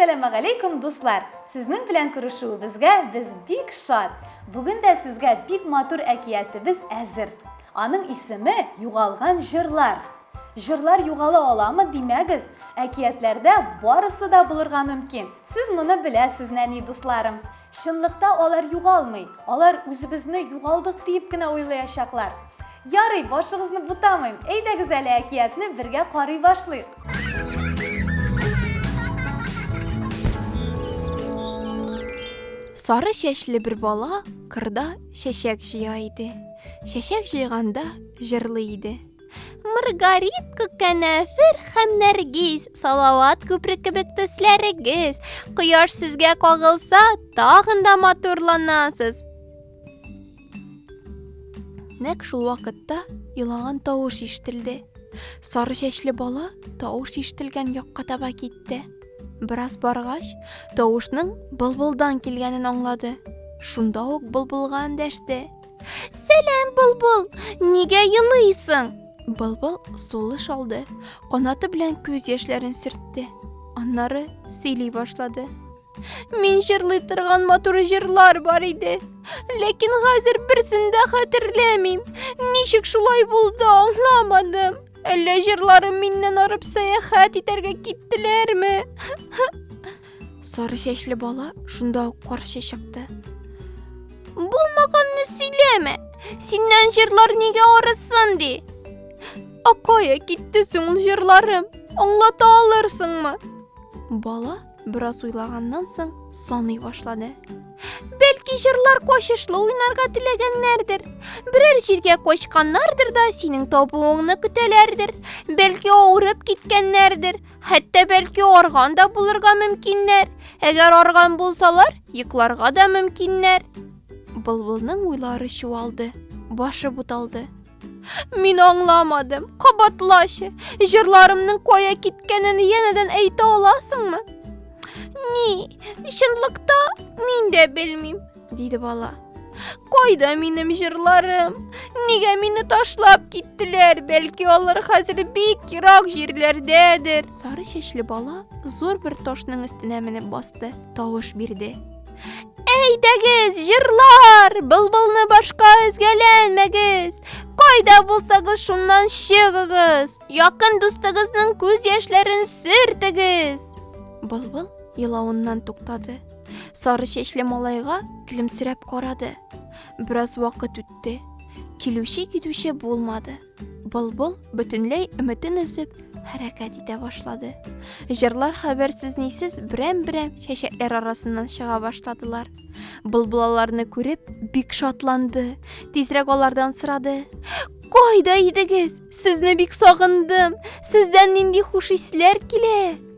Әссәламәгаләйкүм, дуслар! Сезнең белән күрешүебезгә без бик шат. Бүген дә сезгә бик матур әкиятебез әзер. Аның исеме Югалган җырлар. Җырлар югала аламы димәгез, әкиятләрдә барысы да булырга мөмкин. Сез моны беләсез, нәни дусларым. Чынлыкта алар югалмый. Алар үзебезне югалдык диеп кенә уйлаячаклар. Ярый, башыгызны бутамыйм. Әйдәгез әле әкиятне бергә карый башлыйк. Сары чәчле бер бала кырда чәчәк җыя иде. Чәчәк җыйганда җырлый иде. Маргаритка, кәнәфер һәм нәргиз, салават күпре кебек төсләрегез. Кояш сезгә кагылса, тагын да матурланасыз. Нәк шул вакытта елаган тавыш ишетелде. Сары чәчле бала тавыш ишетелгән якка таба китте. Бераз баргач, тавышның былбылдан килгәнен аңлады. Шунда ук былбылга эндәште. Сәлам, Былбыл! Нигә елыйсың? Былбыл сулыш алды, канаты белән күз яшьләрен сөртте. Аннары сөйли башлады. Мин җырлый торган матур җырлар бар иде. Ләкин хәзер берсен дә хәтерләмим. Ничек шулай булды, аңламадым. Әллә җырларым миннән арып сәяхәт итәргә киттеләрме? Сары чәчле бала шунда ук каршы чыкты. Булмаганны сөйләмә. Синнән җырлар нигә арысын ди? Акая китте соң ул җырларым. Аңлата алырсыңмы? Бала бераз уйлаганнан соң саный башлады. Бәлки җырлар качышлы уйнарга теләгәннәрдер. Берәр җиргә качканнардыр да синең табуыңны көтәләрдер. Бәлки авырып киткәннәрдер. Хәтта бәлки арган да булырга мөмкиннәр. Әгәр арган булсалар, йокларга да мөмкиннәр. Былбылның уйлары чуалды, башы буталды. Мин аңламадым. Кабатлачы, җырларымның кая киткәнен янәдән әйтә аласыңмы? Ни, чынлыкта мин дә белмим. Диде бала. Кайда минем җырларым? Нигә мине ташлап киттеләр? Бәлки алар хәзер бик ерак җирләрдәдер. Сары чәчле бала зур бер ташның өстенә менеп басты, тавыш бирде. Әйдәгез, җырлар, былбылны башка өзгәләнмәгез. Кайда булсагыз шуннан чыгыгыз. Якын дустыгызның күз яшьләрен сөртегез. Былбыл елавыннан туктады. Сары чәчле малайга көлемсерәп карады. Бераз вакыт үтте. Килүче китүче булмады. Былбыл бөтенләй өметен өзеп, хәрәкәт итә башлады. Җырлар хәбәрсез нисез берәм-берәм чәчәкләр арасыннан чыга башладылар. Былбыл аларны күреп, бик шатланды. Тизрәк алардан сорады. Кайда идегез? Сезне бик сагындым. Сездән нинди хуш исләр килә?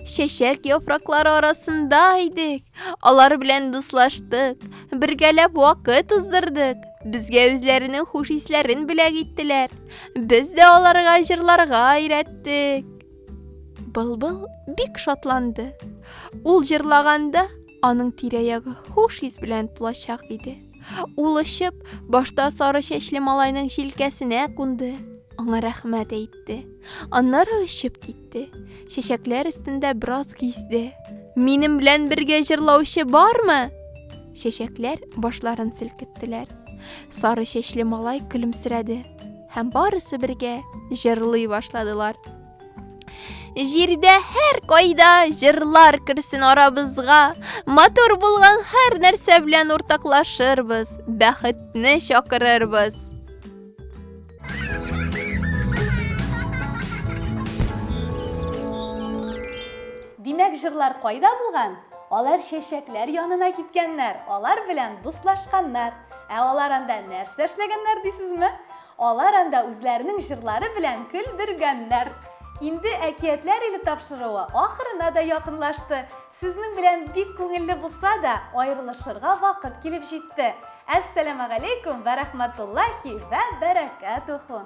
Чәчәк яфраклары арасында идек. Алар белән дуслаштык, бергәләп вакыт уздырдык. Безгә үзләренең хуш исләрен бүләк иттеләр. Без дә аларга җырларга өйрәттек. Былбыл бик шатланды. Ул җырлаганда аның тирә-ягы хуш ис белән тулачак иде. Ул очып, башта сары чәчле малайның җилкәсенә кунды, аңа рәхмәт әйтте. Аннары очып китте. китте. Чәчәкләр өстендә бераз гизде. Минем белән бергә җырлаучы бармы? Чәчәкләр башларын селкеттеләр. Сары чәчле малай көлемсерәде һәм барысы бергә җырлый башладылар. Җирдә һәр кайда җырлар керсен арабызга, матур булган һәр нәрсә белән уртаклашырбыз, бәхетне чакырырбыз. Димәк, җырлар кайда булган? Алар чәчәкләр янына киткәннәр, алар белән дуслашканнар. Ә алар анда нәрсә эшләгәннәр дисезме? Алар анда үзләренең җырлары белән көлдергәннәр. Инде әкиятләр иле тапшыруы ахырына да якынлашты. Сезнең белән бик күңелле булса да, аерылышырга вакыт килеп җитте. Әссәламәгаләйкүм вә рәхмәтуллахи вә бәрәкәтүху.